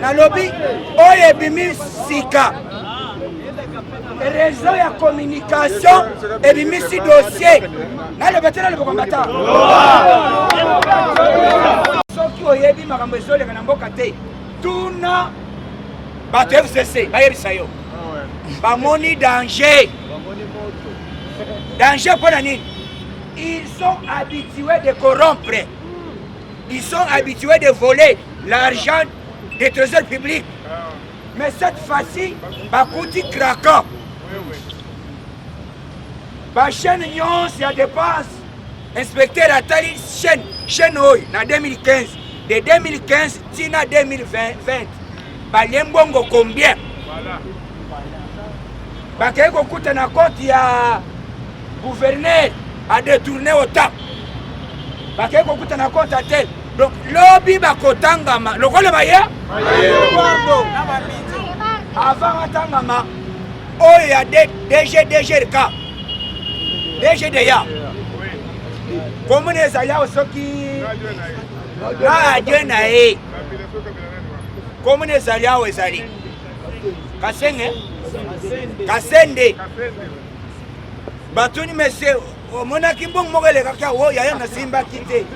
nalobi oyo ebimi sika réseau ya communication ebimisi dossier naloba te naloba kombata soki oyebi makambo ezoleka na mboka te tuna bato ya fcc bayebisa yo bamoni danger danger mpo na nini ils sont habitués de corrompre Ils sont habitués de voler l'argent des trésors publics. Mais cette fois-ci, bakuti craquant. Ba chaîne nyonso ya dépense, inspecteur atali chaîne chaîne oyo na 2015 de 2015 tina 2020 balie mbongo combien bakei kokuta na compte ya gouverneur adetourne otape bakei kokuta na kota te donc lobi bakotangama lokola baye avant atangama oyo ya dgdgrk dgdeya komona eza yao soki na adie na ye komona ezali awa ezali kasenge kasende batuni mesie omonaki mbongo moko elekaki awo oh, yaya nasimbaki te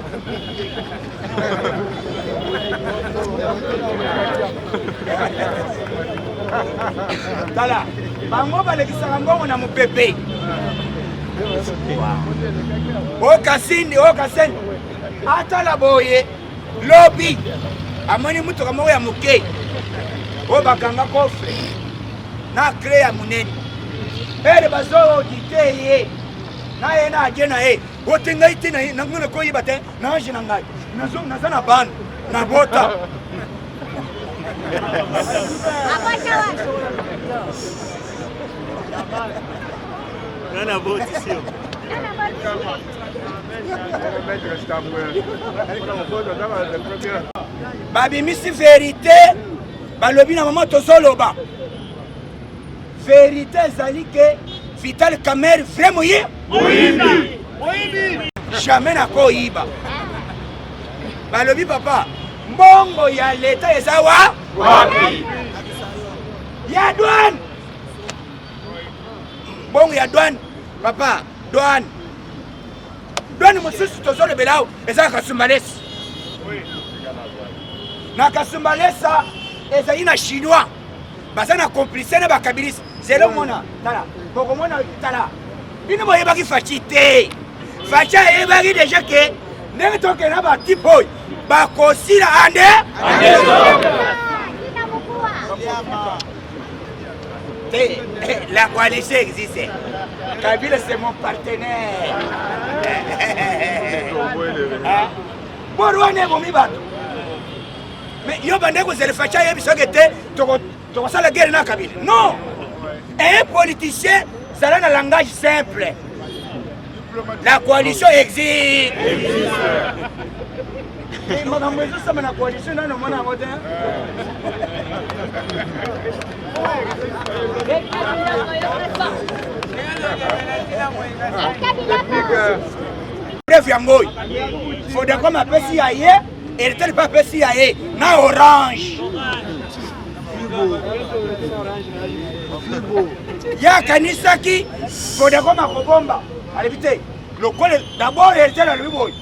tala bango balekisaka mbongo na mopepe okasindi oh, okasindi oh, atala boye lobi amoni motuka moko ya moke oyo bakanga kofre na kle ya monene ele bazoodite ye na ye na age na ye ote ngai te nango nakoyeba te na age na ngai naza na bana na bota Nana boti sio. babimisi verite balobi na mama tozoloba verite ezali ke vital kamer vrai moyi jamais nakoyiba balobi papa mbongo ya leta eza wa wapi ya douane mbongo ya douane papa Douane. Douane mosusu tozolobela awa eza na Kasumbalesa. Na Kasumbalesa ezali na Chinois baza na complice na bakabilisi zelo mona tala bokomona tala bino boyebaki faci te faci ayebaki deja ke ndenge tokende na batipe oyo bakosila ande Eh, eh, la coalition existe. Kabila, c'est mon partenaire. Ah. borwane ebomi bato mais yo bande kozela faci ayebi soki te tokosala guerre na kabila non un politicien zala na langage simple La coalition existe. Eh, makambo ezosama na coalition nani omona yango te bref yango oyo fodacom apesi ya ye eritel mpe apesi ya ye na orange ye akanisaki kodeko makobomba alobi te lokola dabord heritier alobi boye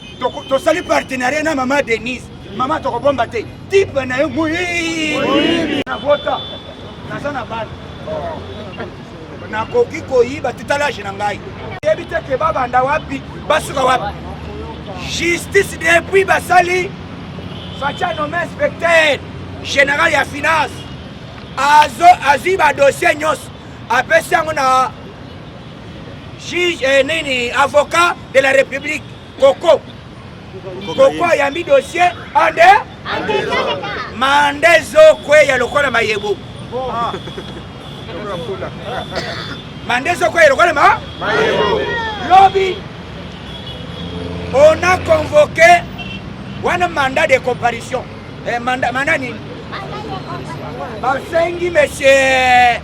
tosali partenariat na mama denise mama tokobomba te tipe na yo moyibi na vota naza na bana nakoki koyiba tutalage na ngai yebi te ke babanda wapi basuka wapi justice depuis basali facha nome inspecteur général ya finance azwi badossier nyonso apesi yango na juge eh, nini avocat de la république koko koko ayambi dossier ande manda ezokweya lokola mayebo ah. manda ezokweya lokola ma lobi on a convoqué wana mandat de comparution eh, mandat, mandat nini basengi monsieur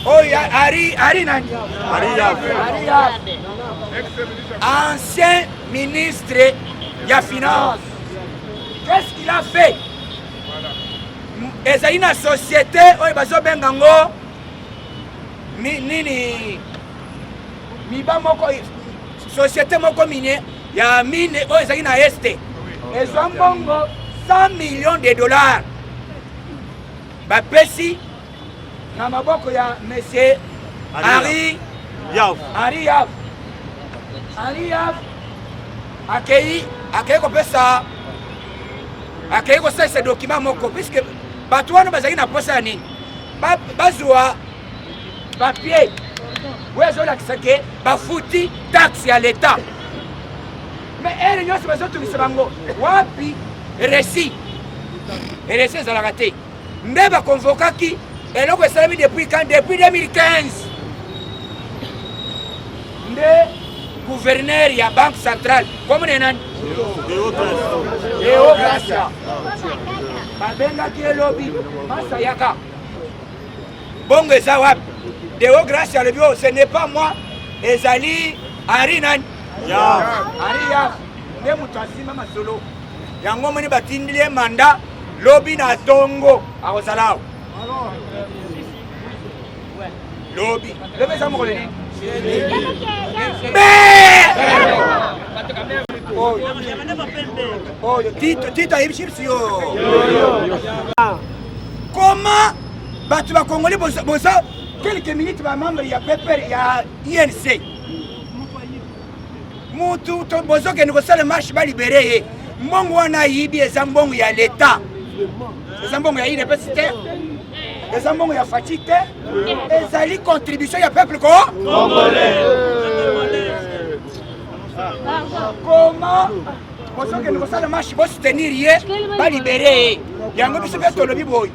Oyo Ari Ari nani? Ari Yabe. Ari Yabe. Ancien ministre ya finance. Qu'est-ce qu'il a fait? Ezali na société oyo bazobenga ngo nini miba moko société moko mine ya mine oyo ezali na este ezwa mbongo 100 millions de dollars bapesi na maboko ya monsieur Henri Yav. Henri Yav. Henri Yav akei akei kopesa akei kosalisa dokima moko puiske bato wana bazalaki na mposa ya nini bazwa papier oyo ezolakisa ke bafuti taxe ya leta me ere nyonso bazotungisa bango wapi resi resi ezalaka te nde ba convokaki eloko esalami depuis quand depuis 2015 nde gouverneur ya banque centrale komona ye nani eogracia babengaki elobi masa yaka bongo eza wapi deogracia alobi o oh, ce n'est pas moi ezali ari nani ari ya nde moto asima masolo yango omoni batindili ye manda lobi na tongo akozala awa lobi lobi eza mokolo nini oyo tito tito ayebi chips yo koma bato bakongoli boza quelques minutes bamembre ya peper ya inc mutu bozokende kosala marche balibere ye mbongo wana ayibi eza mbongo ya leta eza mbongo ya idps te eza mbongo ya faci te ezali contribution ya peuple ko koma bozokende kosala marche bosoutenir ye balibere ye yango biso mpe tolobi boye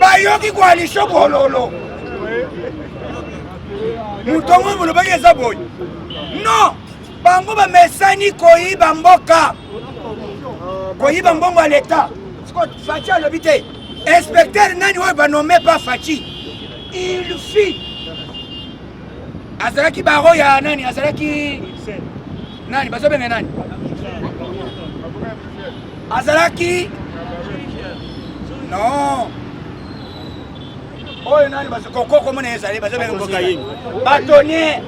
bayoki koalisho bololo moto yango molobaki eza boye non bango bamesani koyiba mboka koyiba mbongo ya leta faci alobi te inspecteur nani oyo banome pa faci ilfi azalaki baro ya nani azalaki nani bazobenga nani azalaki non oyo nani koko komona ezali bazobenga batonnier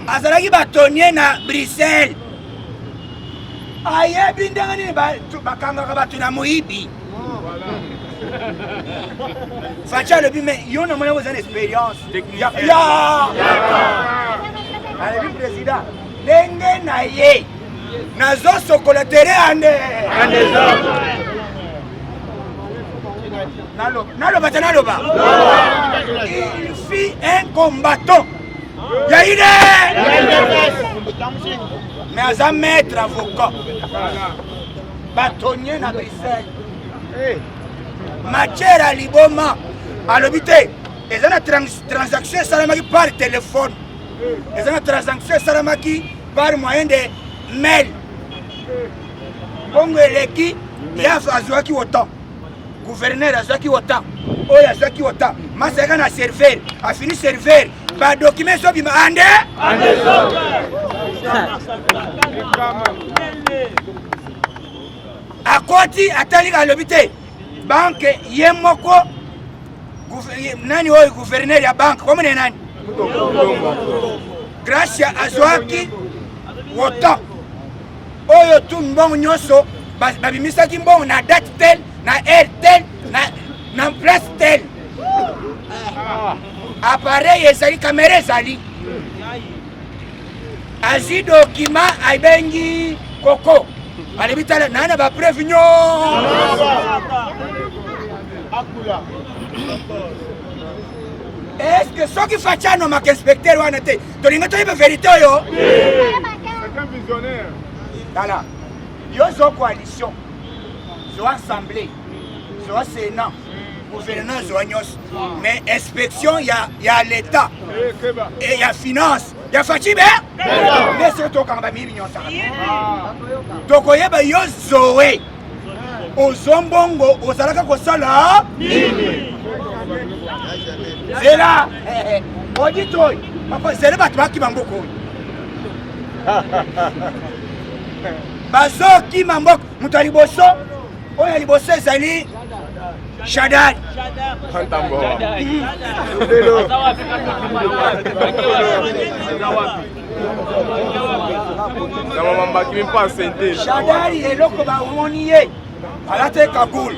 azalaki batonnier na bruxelles ayebi ndenge nini bakangaka bato na moyibi Fatshi alobi me yo na mwana oza na experience alobi président ndenge na ye nazosokola tere ande naloba te naloba il fit un combattant ya ine mais aza maître avocat batonye na bruxelles eh. matière ya liboma alobi te eza na transaction esalamaki par telefone eza na transaction esalamaki par moyen de mail bongo eleki ye azwaki otan guverner azwaki otan oyo azwaki otan masaka na serveur afini serveur Ba documents so bima ande. Ande so. Akoti atali alobi te. Banque ye moko nani oyo gouverneur ya banque komo ne nani? Gracia azwaki woto oyo tu mbongo nyonso babimisaki mbongo na date tel na heure tel na na place tel ah. appareil ezali kamera ezali azwi dokima abengi koko alobi tala naa na bapreuve nyonso eske soki faci anomaka inspecteur wana te tolingi toyeba verité oyo tala yo zo coalition zo assemblée zwa sena gouvernement azwa nyonso mais inspection ya, ya leta e ya finance ya facibe nde soki tokanga bamili nyonso tokoyeba yo zoe ozwa mbongo ozalaka kosala nini zela oditoy papa zele bato bakima mboka oyo bazokima mboka moto ya liboso oyo ya liboso ezali shadari shadari eloko bamoni ye alati kagoule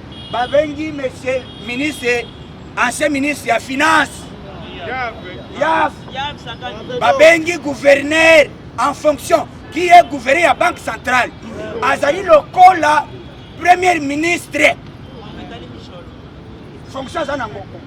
babengi monsieur ministre ancien ministre ya finance yaf babengi gouverneur en fonction qui est gouverneur ya banque centrale azali lokola premier ministre fonction aza nango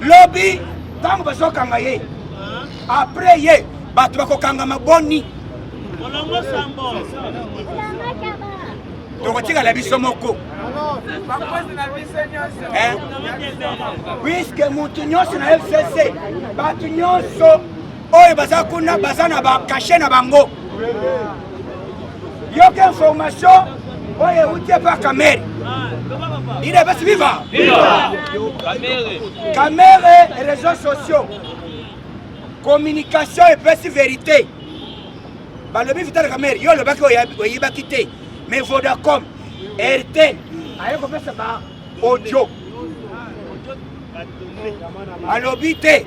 lobi ntango bazokanga ye apres ye bato bakokangama boni tokotikala biso moko eh? puiske moto nyonso na fcc bato nyonso oyo baza kuna baza na bakashe na bango yoka information oyo euti epa kamere ide basi viva kamere réseau sociaux communication epesi verité balobi vitale kamere yo olobaki oyebaki te mais vodacom rt aye kopesa ba audio alobi te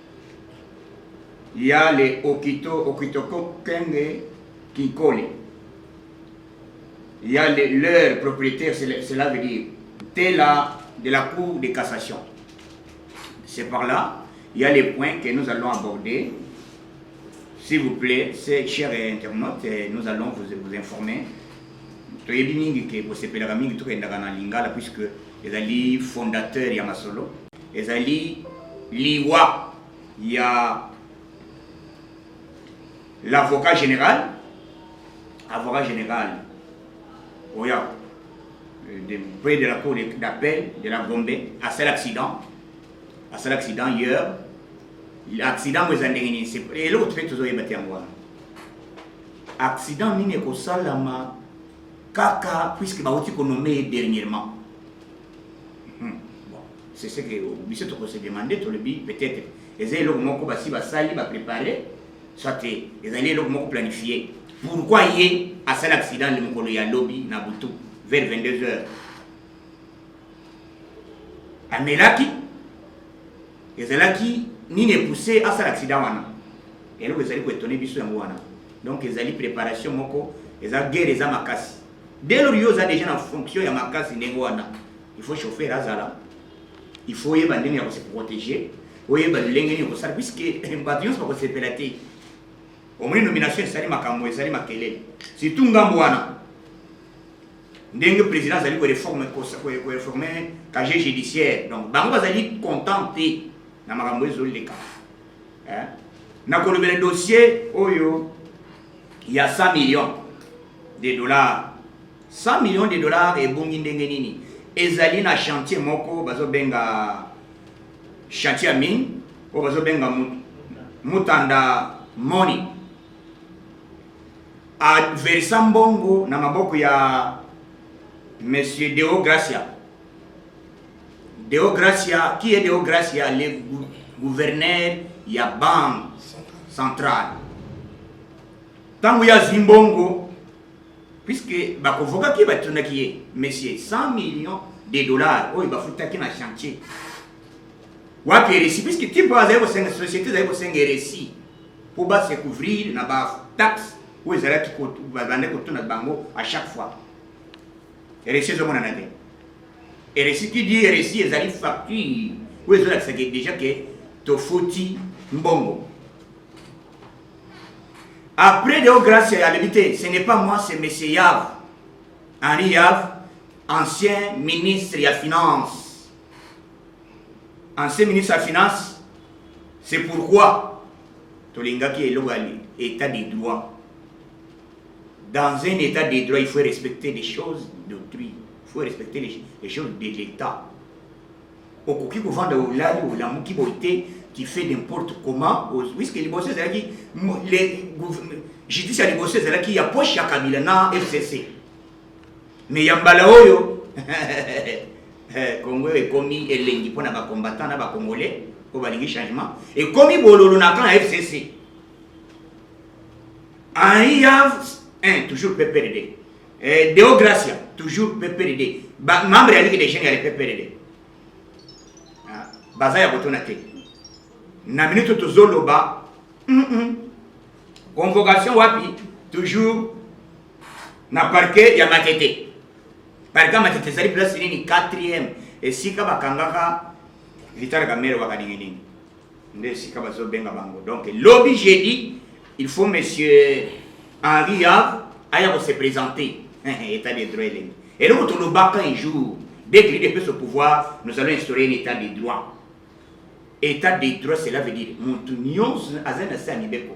Yale okito okito kokenge kinkole. Yale leur propriétaire, cela veut dire Tela de la Cour de cassation. C'est par là, il y a les points que nous allons aborder. S'il vous plaît, ces chers internautes, eh, nous allons vous, vous informer. toyebi mingi ke bosepelaka mingi tokendaka na lingala puisque Ezali fondateur ya masolo. Ezali liwa ya l'avocat général avocat général oyo euh, de près de la cour d'appel de la Gombe asala accident asala accident hier accident oyo eza ndenge nini eloko mpe tozoyeba te yango wana accident nini ekosalama Kaka puisque bauti ko nommer ye dernièrement. Hmm. Bon, c'est ce que biso toko se demander tolobi peut-être eza eloko moko basi basali ba préparer soit ezali eloko moko planifier. Pourquoi ye asala accident le mokolo ya lobi na butu vers 22 heures amelaki Ezalaki nini epousse asala accident wana? Eloko ezali ko étonner biso yango wana. Donc ezali préparation moko, eza guerre eza makasi. Dès lors yo oza déjà na fonction ya makasi ndenge wana, il faut chauffeur azala, il faut oyeba ndenge ya ko se protéger, oyeba lolenge nini okosala puisque bato nyonso bakosepela te. Omoni nomination esali makambo, esali makelele, surtout ngambo wana. ndenge président azali ko reforme ko reforme casier judiciaire donc bango bazali content te na makambo ezo leka hein na kolobela dossier oyo ya 100 millions de dollars 100 millions de dollars ebongi ndenge nini ezali na chantier moko bazo benga chantier ya mine oyo bazo benga mutanda money A versa mbongo na maboko ya Monsieur Deo Gracia. Deo Gracia, qui est Deo Gracia, le gouverneur ya banque centrale. Tango ya Zimbongo, puisque bakovokaki batunaki ye, monsieur 100 millions de dollars oyo bafutaki na chantier wapi eresi puisque type oyo azali kosenga société ezali kosenga eresi mpo ba se couvrir na ba taxe oyo ezalaki babande kotuna bango à chaque fois eresi ezomonana te eresi qui dit eresi ezali facture oyo ezolakisa ke déjà ke tofuti mbongo après deo grace alobi te ce n'est pas moi c'est monsieur yav henri yav ancien ministre ya finance ancien ministre ya finance c'est pourquoi tolingaki eloko ya état de droit dans un état de droit il faut respecter les choses d'autrui il faut respecter les, les choses de l'état okoki kovanda olali olamuki boye te tu fais n'importe comment puisque liboso ezalaki justice ya liboso ezalaki ya poche ya kabila na fcc Mais ya mbala oyo Congo eh, ekomi elengi mpo na bacombattant na bacongolais oyo balingi changement ekomi bololo na camp ya fcc aiyav eh, toujours pprd eh, deo gracia toujours pprd membre ya ligue des jeunes ya le pprd ah, baza ya kotuna te na minute tozoloba convocation wapi toujours na parke ya matete parke ya matete ezali place nini 4e esika bakangaka vitale kamere waka ninginingi nde esika bazobenga bango donc lobi jeudi il faut monsieur henri yave aya kose présenter état de droit elengi eloko tolobaka un jour dès que l'idps au pouvoir nous allons instaurer un état de droit état de droit cela veut dire motu nyonso aza na se ya mibeko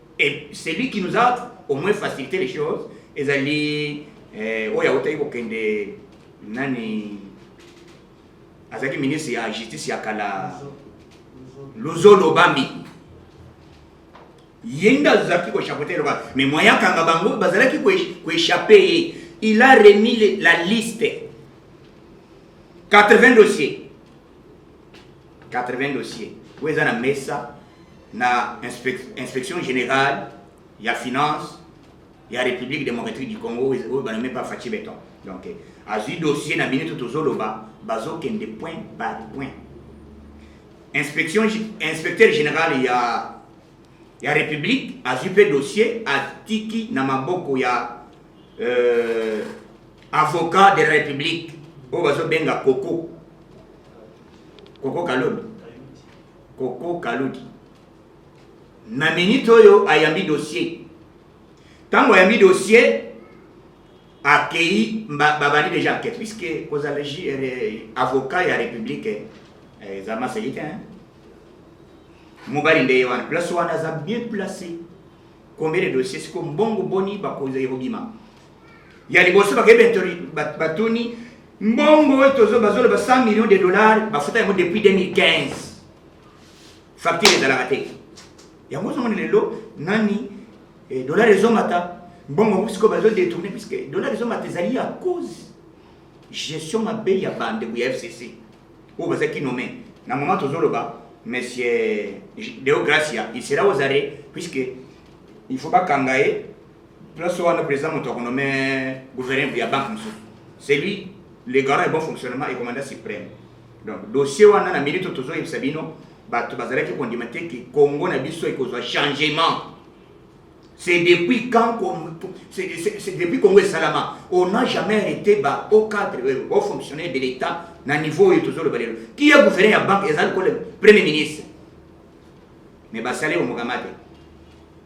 Et celui qui nous a au moins facilité les choses, ezali eh, oyo autaki kokende nani azalaki ministre ya justice ya kala luzo lobambi ye nde azalaki kochapote loba mais moye akanga bango bazalaki koechappe ye il a remis la liste 80 dossiers 80 dossiers oyo eza na mesa na inspection générale ya finance ya république démocratique du congo oyo banome pa faci beton donc azwi dossier na minute tozoloba bazokende point par point inspection inspecteur général ya ya république azwi mpe dossier atiki na maboko ya euh, avocat de la république oyo bazobenga koko koko kalombi koko kaludi na minute oyo ayambi dossier ntango ayambi dossier akei babandi deja enquête puisque kozala euh, avocat ya république euh, eza maseki te mobali nde ye wana place wana aza bien placé combien de dossier siko mbongo boni bakozali kobima ya liboso bakebetoli batuni mbongo oyo tozo bazoloba 100 millions de dollars bafuta yango depuis 2015 facture ezalaka te yango ozomona lelo nani eh, dollar ezomata mbongo yango sikoyo bazo détourne puisque dollar ezomata ezali ya cause gestion mabe ya bandeko ya fcc oyo bazalaki nome na moment tozoloba monsieur deo gracia il sera aux arrêt puisque il faut bakanga ye Place wana président moto akonome gouverneur ya banque mosusu. C'est lui le garant ya bon fonctionnement et commandant suprême. Donc dossier wana na minute tozoyebisa bino bato bazalaki kondima te ke Congo na biso ekozwa changement. C'est depuis quand c'est depuis Congo esalama on n'a jamais été ba au cadre au fonctionnaire de l'État na niveau oyo tozoloba lelo. Qui est gouverneur ya banque ezali ko le premier ministre mais basali omokama te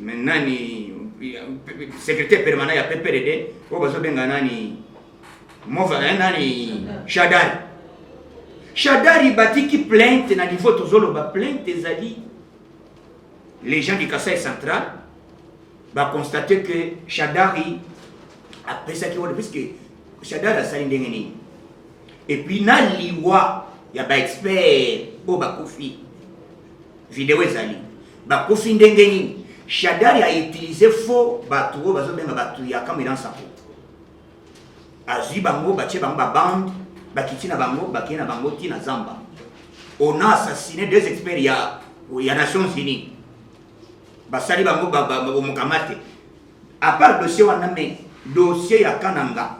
Mais nani secrétaire permanent ya PPRD oyo bazobenga nani mova eh, nani Shadari Shadari batiki plainte na niveau tozoloba plainte ezali les gens du Kasaï central ba constater que Shadari apesaki wana puisque Shadari asali ndenge nini et puis na liwa ya ba expert oyo bakufi Video ezali bakufi ndenge nini? Shadari a utiliser faux batu oyo bazobenga batu ya Kamwina Nsapu, azwi bango batie bango ba bande bakiti na bango bakei na bango ti na zamba. On a assassiné deux experts ya, ya Nations Unies basali bango bamokamate à part dossier wana me dossier ya Kananga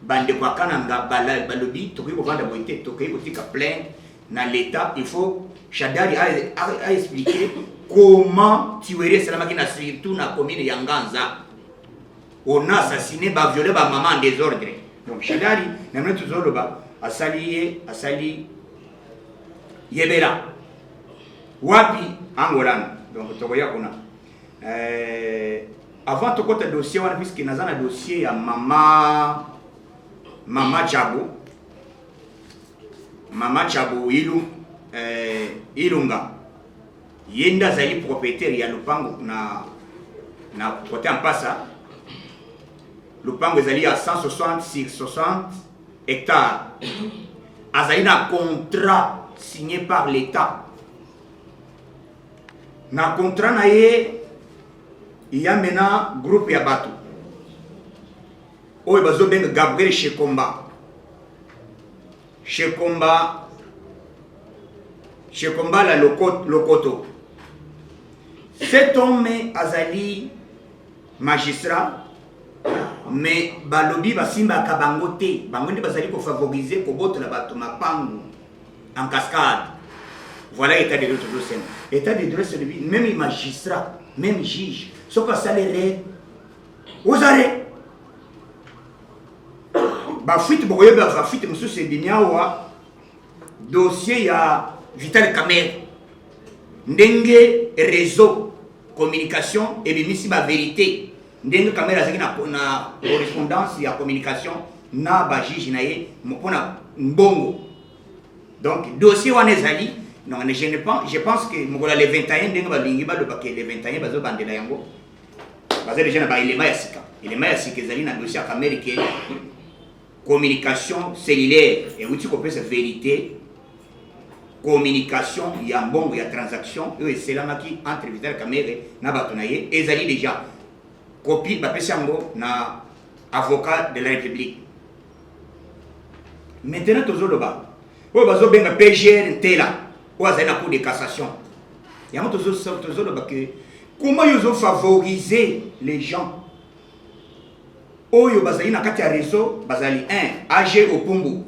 bandeko ya Kananga balobi tokoki kovanda boye te, tokoki kotika plainte na l'etat il faut Shadari a, a, a expliqué comment tuerie esalamaki na surtout na commune ya Nganza on a assassiné ba violé ba maman en désordre donc Shadari na mna tuzoloba asali ye asali yebela wapi angolana donc tokoya kuna euh, avant tokota dossier wana puisque naza na dossier ya mama mama Djabo Mama Chabu Ilu, eh, Ilunga ye nde azali propriétaire ya lopango na na kote mpasa lopango ezali ya 160 sur 60 hectare azali na contrat signé par l'état na contrat na ye ya mena groupe ya bato oyo bazobenga gabriel shekomba shekomba shekomba la lokoto, lokoto. cet homme azali magistrat mais balobi basimbaka bango te bango nde bazali kofavorize kobotola bato mapangu en cascade voilà état de droit tozosema état de droit c'est même magistrat même juge soki asali rete ozali bafuite bokoyeba bafuite mosusu ebimi awa dossier ya vital camere ndenge réseau communication ebimisi baverité ndenge camere azalaki na, na correspondance ya communication na bajuge na ye mpo na mbongo donc dossier wana ezali donc je, ne pense, je pense que mokolo ya le 21 ndenge balingi balobaka le 21 bazobandela yango baza deja na baelema ya sika elema ya sika ezali na dossier ya kamere ke communication cellulaire euti kopesa verité communication ya mbongo ya transaction oyo eselamaki entre vital kamere na bato na ye ezali deja kopi bapesi yango na avocat de la république maintenant tozoloba oyo bazobenga pgr ntela oyo azali na cour de cassation yango tozoloba ke comment yo ozo favoriser les gens oyo bazali na kati ya réseau bazali 1 ag opumbu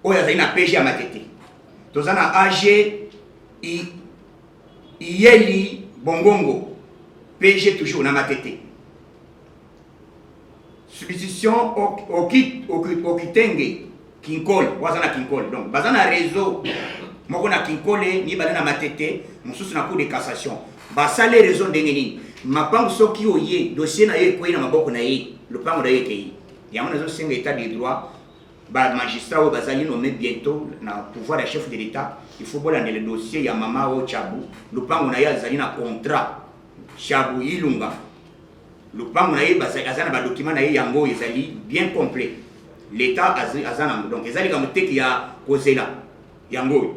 oyo azali na pg ya matete toza na ag iyeli bongongo pg toujours na matete substitution okitenge kinkole waza na kinkole donc baza na réseau moko na kinkole mibale na matete mosusu na cour de cassation basali réseau ndenge nini mapango soki oye dossier na yo ekwei na maboko na ye lopango na yo ekei yango nazosenga état de droit bamagistrat oyo bazali nome bientôt na pouvoir ya chef de l'état il faut bolandela dossier ya mama oyo chabu lopango na ye azali na contrat chabu ilunga lopango na ye baza- aza na badokima na ye yango ezali bien complet leta azi- aza nango donc eza likambo teke ya kozela yango oyo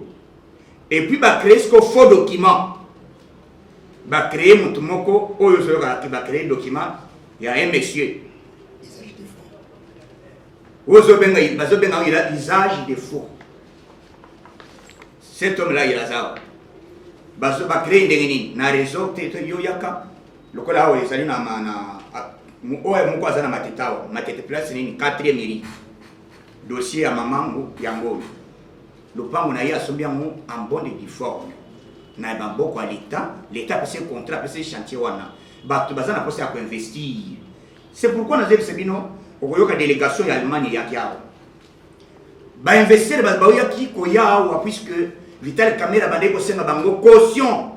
epuis bacree siko faux document bacree motu moko oyo ozoyoka ke bacree document ya un monsieur ezali te fo oyo ozobenga bazobenga yango ila- usage de faux cet homme là il aza awa. Bazo- bacree ndenge nini na réseau te to yoyaka lokola awa ezali na oyo moko aza na matete awa matete place nini quatrième eri dossier ya mamango yango oyo lopango na ye asombi yango en bonne et due forme na maboko ya leta leta apesi contrat apesi chantier wana bato baza na mposa ya koinvestir c'est pourquoi nazebisa bino okoyoka délégation ya allemagne eyaki awa bainvestisseur baoyaki koya awa puisque vital camera bandeki kosenga bango caution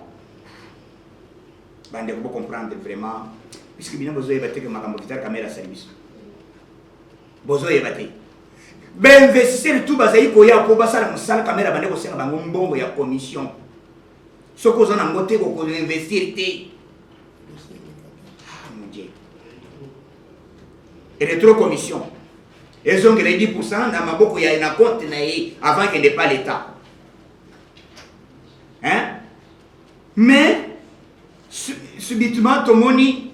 Bande ko comprendre vraiment puisque bino bozo yeba teke makambo Vital Kamerhe asali biso bozo yeba te bainvestisseur tout bazali koya mpo basala mosala Kamerhe abande kosenga bango mbongo ya commission soki oza na ngo te kokoinvestir te retro commission ezongela 10 na maboko ya na compte na ye avant kende pas l'etat hein mais subitement tomoni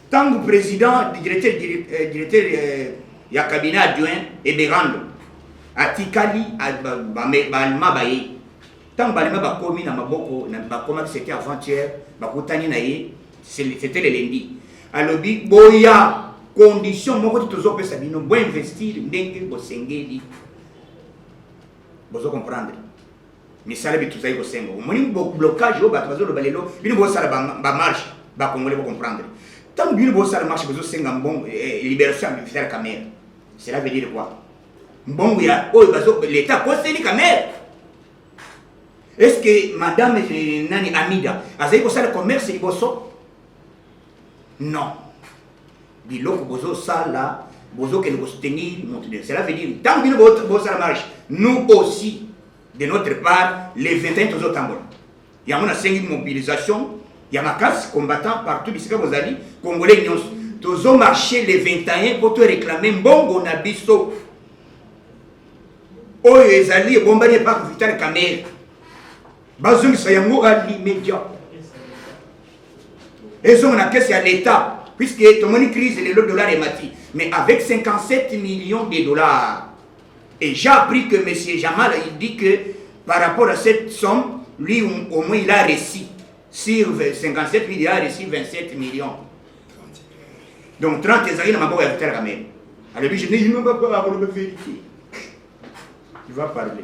ntango président directeur, euh, directeur euh, ya cabinet adjoint eberando atikali baalema baye ntango balema bakomi na maboko bakomaki sete aventure bakutani na ye sete lelendi alobi boya condition moko ti tozopesa bino boinvestir ndenge bosengeli bozo comprendre misala bitu tozali kosenga omoni blocage oyo bato bazoloba lelo bino bosala bamarche bacongolais bocomprendre ntango bino bosala marche bozosenga mbongo eh, eh, liberation ya vital camere cela veut dire quoi mbongo ya oyo leta akoseli camere est ce que madame eh, nani amida azali kosala commerce liboso non biloko bozo sala bozo kende ko soutenir moto de cela veut dire tango bino bo sala marche nous aussi de notre part les 21 tozo tambola yango nasengi mobilisation ya makasi combattant partout bisika bozali congolais nyonso tozo marche le 21 mpo toreklame mbongo na biso oyo ezali ebombani epai vital kamere bazongisa yango à l'immédiat ezonga na kese ya l'etat puisque tomoni crise lelo dollar emati mais avec 57 millions de dollars et j'ai appris que monsieur jamal il dit que par rapport à cette somme lui au moins il a réussi sur 57 millions il a réussi 27 millions donc 30 ezali na maboko ya vital kamere alobi je ne pas vérité il va parler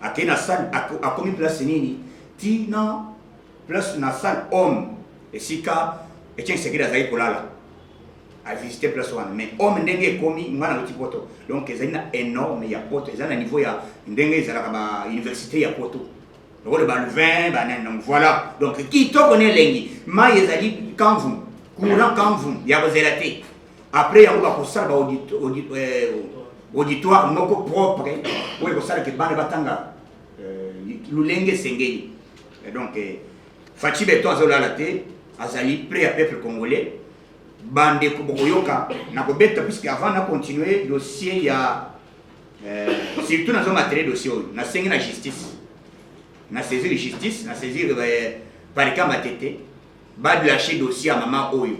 Akei na salle akomi place nini? Ti na place na salle homme esika Etienne Tshisekedi azali kolala. A visiter place wana mais homme ndenge ekomi ngana loti poto. Donc ezali na énorme ya poto, ezali na niveau ya ndenge ezalaka ba université ya poto. Lokola ba Louvain, ba nene donc voilà. Donc kitoko ne elengi. Mai ezali kanvu, courant kanvu ya kozela te. après yango bakosala ba audit, audit, eh, auditoire moko propre oyo ekosala ke bana batanga euh, lolenge esengeli donc eh, faci beton azolala te azali près ya peuple congolais bandeko bokoyoka nakobeta puisque avant na continue dossier ya euh, surtout nazo matele dossier oyo nasengi na justice na saisir justice na saisir euh, parika matete badlashe dossier ya mama oyo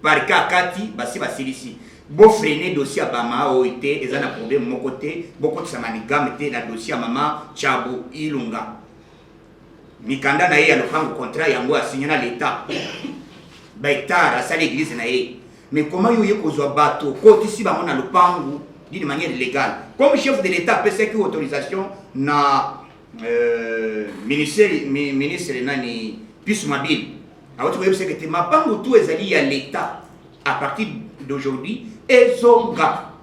Parquet akati, basi basilisi. Bo freiner dossier ya Bama oyo te, eza na problème moko te. Bokotisa manigame te na dossier ya mama Tshabu Ilunga. Mikanda na ye ya lopango contrat yango asigna na l'Etat. Ba hectares asali église na ye. Mais comment yo oye kozwa bato okotisi bango na lopango d'une manière illégale? Comme chef de l'Etat apesaki autorisation na Euh, ministre ministre nani Pius Mabili awuti koyebisa ete mapango tu ezali ya l'État à partir d'aujourd'hui ezonga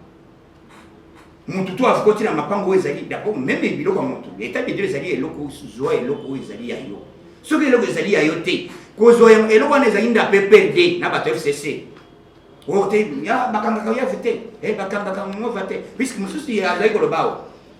mutu tu avukoti na mapango oyo ezali dapo meme biloko ya motu etat de dieu ezali eloko zwa eloko oyo ezali ya yo soki eloko ezali ya yo te kozwa eloko wana ezali nda pprd na bato fcc oyo te bakangaka yo ave te bakangaka ngova te puiske mosusu azali koloba awa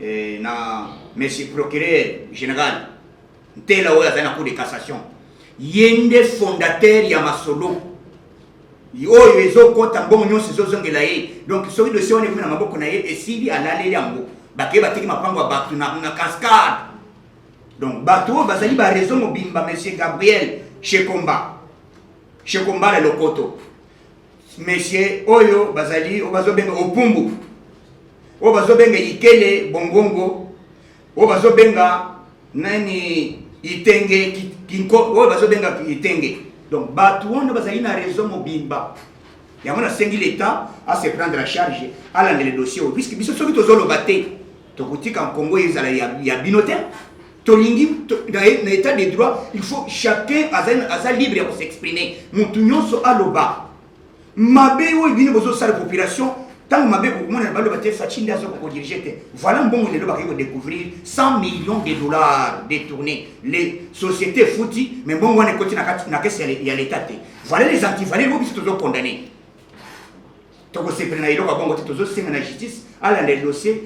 eh, na monsieur procureur général ntela oyo azali na cour de cassation ye nde fondateur ya masolo oyo ezokɔta mbongo nyonso ezozongela ye donc soki dosie wana ekomi na maboko na ye esili alaleli yango bakei bateki mapango ya bato na cascade donc bato oyo bazali bareseau mobimba monsieur gabriel shekomba shekomba na lokoto mesie oyo bazali oyo bazobenga opumbu oyo bazobenga ikele bongongo oyo bazobenga nani itenge kinko oyo bazobenga itenge donc bato wana bazali na réseau mobimba yango nasengi leta ase prendre en charge alandele dossier oyo puiske biso soki tozoloba te tokotika nkongo ezala ya, ya bino te tolingi to, na, na état de droit il faut chacun aza, aza libre ya kosexprime motu nyonso aloba mabe oyo bino bozosala population ntango mabe komonana baloba te faci nde azoka kodirige te voilà mbongo lelo bakei kodécouvrir 100 millions de dollars détourné les sociétés efuti mais mbongo wana ekoti na kesi ya l'état te voilà les antivaleur oyo biso tozokondane tokosepela na eloko ya bongo te tozosenga na justice alanda dossier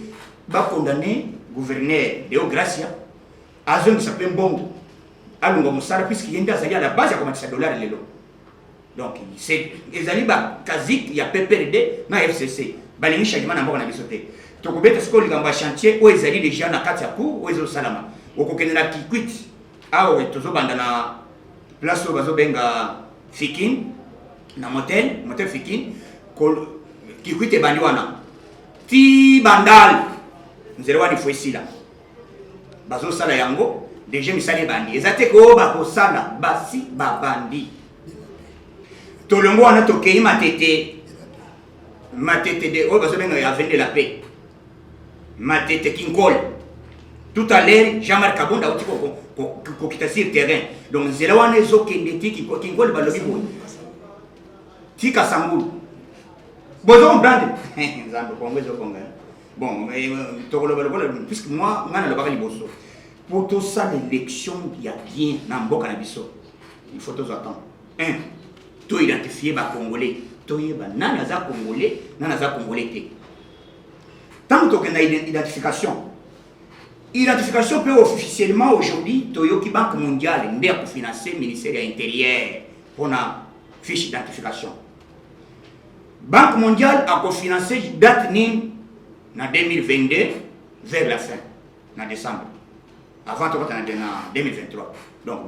bakondane gouverneur deo gracia azongisa mpe mbongo alonga mosala puiske ye nde azali a la base ya komatisa dollar lelo donc ezali bakazike ya pprd na fcc balingi changement na mboka na biso te tokobeta sikoyo likambo ya chantier oyo ezali deja na kati ya cour oyo ezosalama okokende na kikwiti Awa we tozo banda na place oyo bazo benga Fikin na motel motel Fikin kikwite bandi wana ti bandal nzela wana ifo esila bazosala yango deje misala ebandi eza te ko bakosala basi babandi tolongo wana tokei matete matete de oyo bazobenga ya vende la paix Matete Kinkole. Tout à l'heure, Jean-Marc Kabund auti kokita sur terrain. Donc nzela wana ezokende ti Kinkole balobi boye. Tika sangulu. Bozo comprendre? Nzambe Kongo ezokonga. Bon, eh, tokoloba lokola puisque moi ngai nalobaka liboso. Pour tout ça, l'élection, il y a bien dans le na biso. Il faut tous attendre. Un, tout identifier ba Congolais. Tout yeba, nana za Congolais, nana za Congolais. Tant que na identification. Identification peut officiellement aujourd'hui Toyoki Banque mondiale nde ko financer ministère ya intérieur pona fiche d'identification. Banque mondiale a ko financer date ni na 2022 vers la fin na décembre. Avant to na 2023. Donc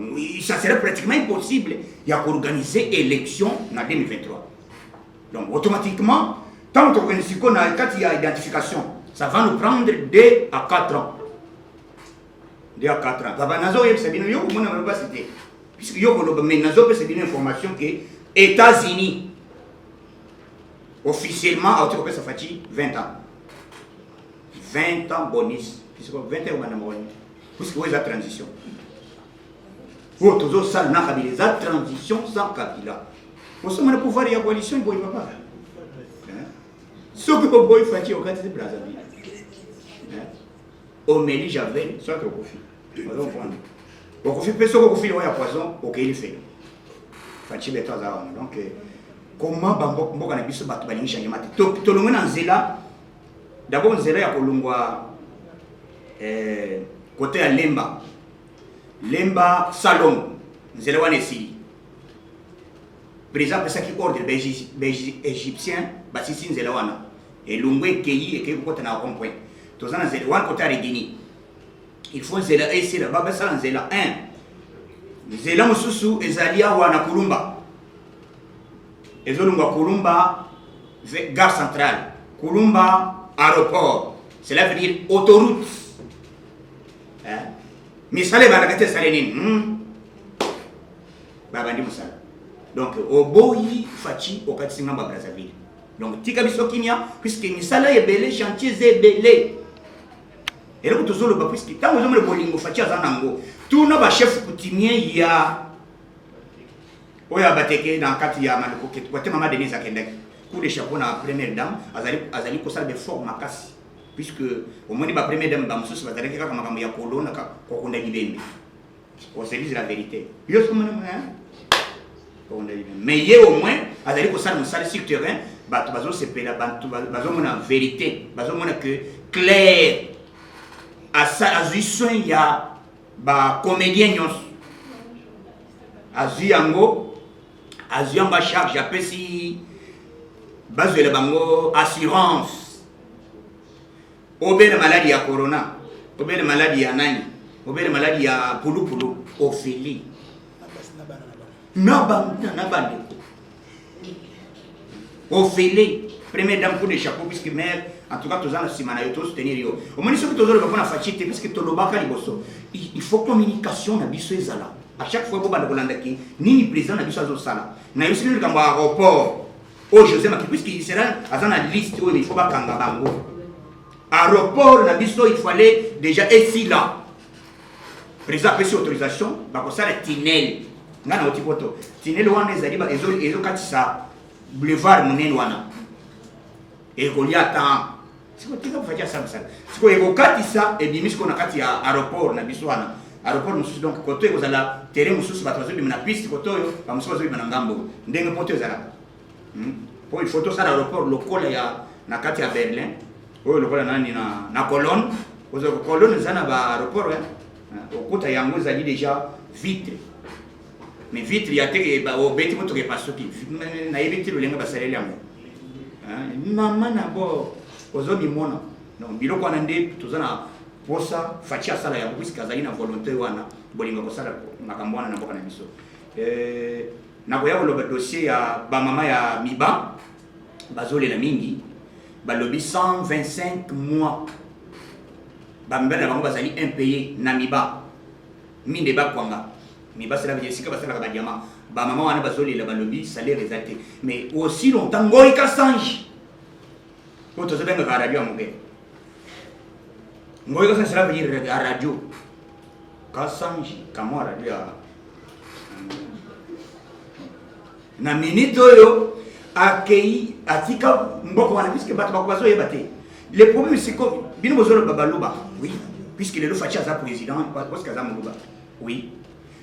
ça serait pratiquement impossible ya ko organiser élection na 2023. Donc automatiquement, tant qu'on est qu'on a quand il y a identification, ça va nous prendre 2 à 4 ans. 2 à 4 ans. Baba nazo yebisa bino yo komona bana basi te. Puisque yo koloba mais nazo pesa bino information que États-Unis officiellement auti kopesa Fatshi 20 ans. 20 ans bonus. Puisque 20 ans obanda mawani. Puisque oyo eza transition. oyo tozosala na kabila eza transition sans kabila osomana pouvoir ya coalition boye papa soki oboyi faci okati te brazzaville omeli javel soki okufi ozomprendre okufi mpe soki okufi liwa ya poison okei lifelo faci beto aza wana donc euh, comment bamboka na biso bato balingi changement te tolongwe na nzela dabord nzela ya kolongwa kote euh, ya lemba Lemba Salongo, nzela wana esili. Président apesaki ordre ba-Egyptien basisi nzela wana. Elongo ekeyi ekeyi kokota na rond point. Toza na nzela wana kota ya Regini. Il faut nzela esila ba basala nzela 1. Nzela mosusu ezali awa na Kulumba. Ezolongwa Kulumba gare centrale. Kulumba aéroport. Cela veut dire autoroute. eh? misala ebandaka te esali nini hmm? babandi mosala donc oboyi faci okatisi ngambo ya brazzaville donc tika biso kimia puiske misala ebele chantier eza ebele eloko tozoloba puiske ntango ezomona bolingo faci aza nango tuna bachef coutumier ya oyo abateke na kati ya maloko bate mama denise akendaki coup de chapeau na première dame azali, azali kosala befort makasi puisque omoni ba première dame bamosusu bazalaki kaka makambo ya kolona kokunda libembe oselise la verité yo kokunda libembe mais ye au moins azali kosala mosala sur terrain bato bazosepela bato bazomona verité bazomona que claire azwi soin ya bacomédien nyonso azwi yango azwi yango acharge apesi bazwela bango assurance obele maladi ya corona obele maladi ya nani obele maladi ya pulupulu ofeli na bandeko ofele première dame coup de chapeau puisque mère en tout cas toza na nsima na yo tozosoutenir yo omoni soki tozoloba mpo na faci te puisque tolobaka liboso il faut communication na biso ezala à chaque fois bobanda kolandaki nini président na biso azosala nayosili likambo ya aéroport oyo josé maki puisque israel aza na liste oyo il faut bakanga bango aéroport na biso il fallait déjà esila président apesi autorisation bakosala tinel ngai nauti poto tinel wana ezali ezokatisa boulevard monene wana ekolia temps siko tika faci asambisaka siko ekokatisa ebimi siko na kati ya aeroport na biso wana aeroport mosusu donc koto ekozala terrain mosusu bato bazobima na piste koto oyo bamosusu bazobima na ngambo oyo ndenge poto ezalaka hmm? po il faut tosala aeroport lokola ya na kati ya berlin oyo lokola nani na, na colonne kozala colonne eza na baaeroport eh? okuta yango ezali deja vitre mais vitre ya te ba obeti moto ke pasuki na yebi ti lolenga basaleli yango mama na bo ozo mimona donc biloko wana nde toza na posa faci asala yango puisque azali na volonté wana bolinga kosala makambo wana na mboka na biso eh, nakoya koloba dossier ya bamama ya miba bazolela mingi balobi 125 mois bamibali na bango bazali impayé na miba mine bakwanga mais basala ba esika basalaka ba diamant ba mama wana bazolela balobi salaire eza te mais aussi longtemps ngoi ka sange oyo tozobengaka radio ya moke ngoi ka sange sala venir ya radio ka sange kamwa radio ya na minute oyo akei atika mboko wana puisque bato bako bazoyeba te le problème siko bino bozoloba baluba oui puisque lelo faci aza président parce que aza moluba oui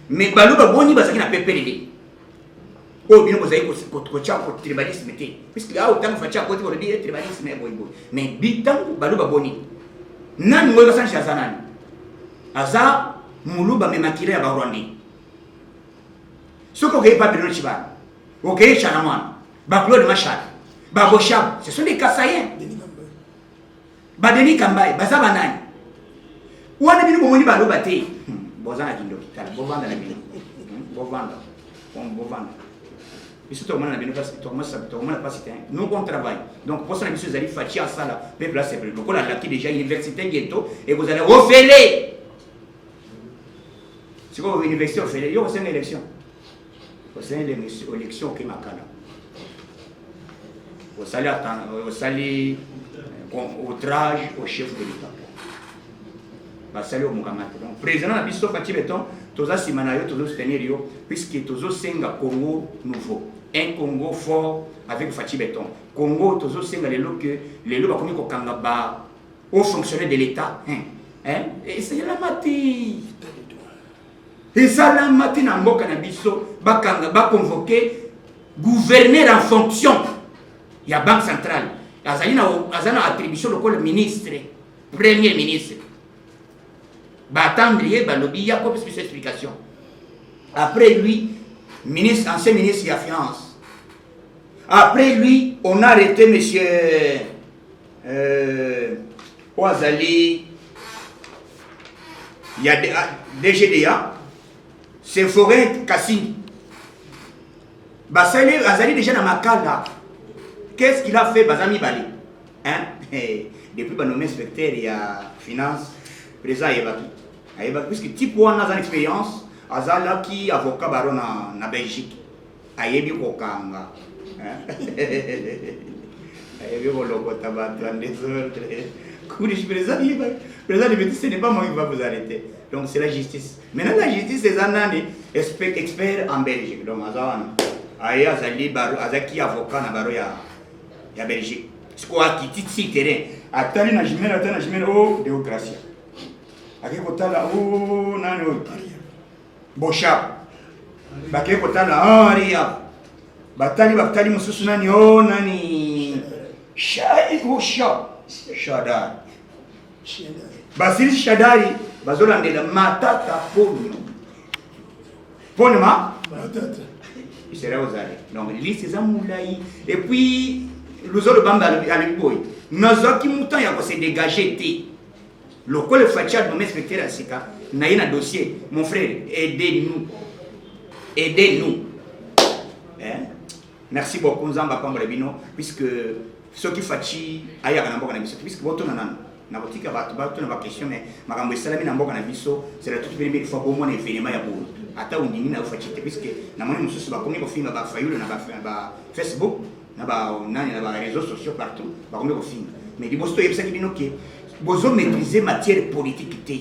mais baluba boni bazalaki na pepelele oyo bino bozali kotya tribalisme te puisque awa ntango faci akoti bolobi ye tribalisme boyeboye mais bi ntango baluba boni nani ngoyo basanji aza nani aza muluba me makila ya barwandais Soki okei Babylone Chibana, okei Chanamwana, ba Claude Mashaka, ba Boshab, ce sont des Kasaïens. Ba Denis Kambaye, baza banani? Wana bino bomoni baloba te. Hmm, boza na kindoki tala, bovanda na bino. Hmm, bovanda. Bovanda. biso tokomona na bino tokomona mpasi te nous on travaille donc mposa na biso ezali faci asala mpe place lokola alaki déjà université ngeto ekozala ofele sikoyo université ofele yo osenga élection osenga élection oke makala osali osali euh, outrage au chef de l'état basali yo mokanga te donc président na biso fati beton toza nsima na yo tozo soutenir yo puisque tozosenga congo nouveau un congo fort avec fati beton congo tozosenga lelo ke lelo bakomi kokanga ba Haut fonctionnaire de l'État. Hein? Hein? Et c'est la matière. ezalamaki na mboka na biso bakanga baconvoke gouverneur en fonction ya banque centrale azali na aza na attribution lokola ministre premier ministre batendre ye balobi ya kopesa biso explication après lui ministre ancien ministre ya finance après lui on a arrêté monsieur Euh, oyo azali ya DGDA ah, c'est Forêt Kasindi basali azali déjà na makala qu'est-ce qu'il a fait baza mibale hein depuis banome inspecteur ya finance président ayebaki ayebaki puisque type wana aza na expérience azalaki avocat baro na, na belgique ayebi kokanga ayebi kolokota bato ya desordre kulish président liba président liba ce n'est pas moi qui va vous arrêter donc c'est la justice maintenant la justice eza nani expert en belgique donc aza wana aye azali baro azalaki avocat na baro ya ya belgique sikoyo akiti ti terrain atali na jimele atali na jimele o oh, deogracia akei kotala o oh, nani oyo Bosha bakei kotala henri ya batali batali mosusu nani o oh, nani shaihusha shadari basilisi shadari bazolandela matata ponio pone ma isera ozali donc lisi eza molai epuis luzolo bamba alobi boye nazwaki motan ya kose dégage te Lokole Fatshi a nomme inspecteur ya sika na ye na dossier, mon frère, aidez-nous. Aidez-nous. Eh? Merci beaucoup Nzambe apambola bino puisque soki Fatshi ayaka na mboka na biso puisque botuna nanu nakotika bato batuna ba question mais makambo esalami na mboka na biso c'est la toute première fois bomona événement ya boye ata ondimi na yo Fatshi te puisque namoni mosusu bakomi kofinga ba Fayulu na ba, ba Facebook na ba nani na ba réseaux sociaux partout bakomi kofinga mais liboso toyebisaki bino ke bozo maîtriser matière politique te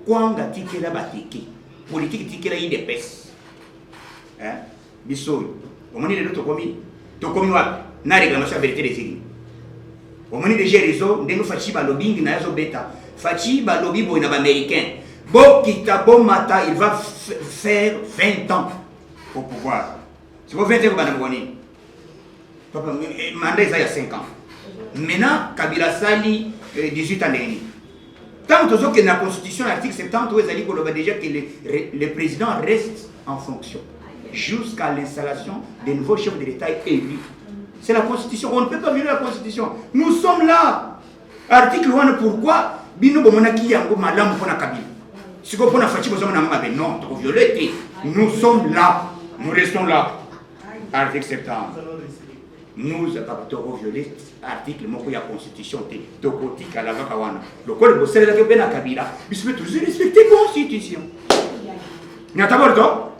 kwanga tikela bateke politique tikela idps hein biso oyo omoni lelo tokomi tokomi wapi na réclamation ya verité des urnes omoni deja réseau ndenge faci balobingi na ye azobeta faci balobi boye na baaméricain bokita bomata il va faire 20 ans au pouvoir siko 20 ans ekobanda mokoni Papa, eh, mandat eza ya 5 ans. Maintenant, Kabila sali 18 eh, ans ndenge nini? Tant tozokende na constitution na article 70 oyo ezali koloba déjà que le, le président reste en fonction jusqu'à l'installation des nouveaux chefs de l'État élus. C'est la constitution. On ne peut pas violer la constitution. Nous sommes là. Article 1, pourquoi bino bomonaki yango malamu mpona kabila sikoyo mpona faci bozomona yango mabe non tokoviole te nous sommes là nous restons là article 70 nous kaka toko viole article moko ya constitution te tokotikala kaka wana lokola bosalelaki mpe na kabila biso mpe tozo respecte constitution nataborto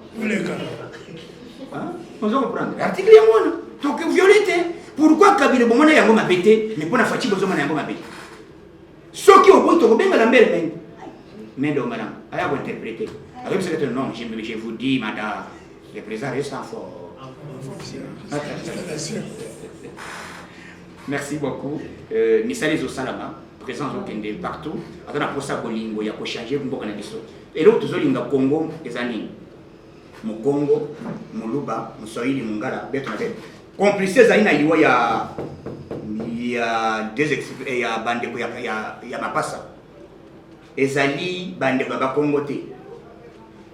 ozo comprendre article yango wana tokoviole te pourquoi kabila bomona yango mabe te mais mpo na faci bozomona yango mabe soki oboyi tokobenga na mbele mende mende ongana aya kointerprete akoyebisa kete non je vous dis mada le président reste en fort merci beaucoup euh, misala ezosalama présence okende partout aza na mposa bolingo ya kochange mboka na biso eloko tozolinga congo eza nini Mukongo, Muluba, Muswahili, Mungala, bete na bete. Complice ezali na liwa ya ya deux eh, ya bandeko ya, ya, ya mapasa ezali bandeko ya bakongo te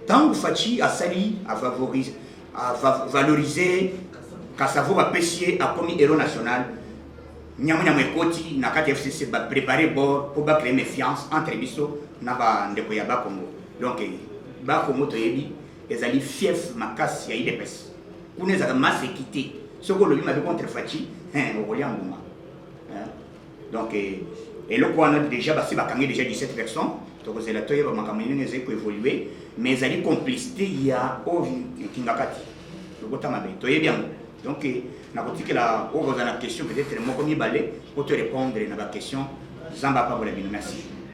ntango faci asali afavorise valorize kasavo bapesi ye akomi hero national nyamunyamu ekoti na kati ya fcc baprepare bord mpo bacree méfiance entre biso na bandeko ya bakongo donc ba Congo toyebi ezali fief makasi ya idps kuna ezalaka masse ekite soki olobi mabe contre faci okolia mbuma donc eh, eloko wana déjà basi bakangi déjà 17 personnes tokozela toyeba makambo nini ezali koévolue mais ezali complicité ya oyo kingakati lokota mabe toyebi yango donc eh, nakotikela oyo kozala na question peut-être moko mibale mpo to répondre na baquestion zamba apambola bino merci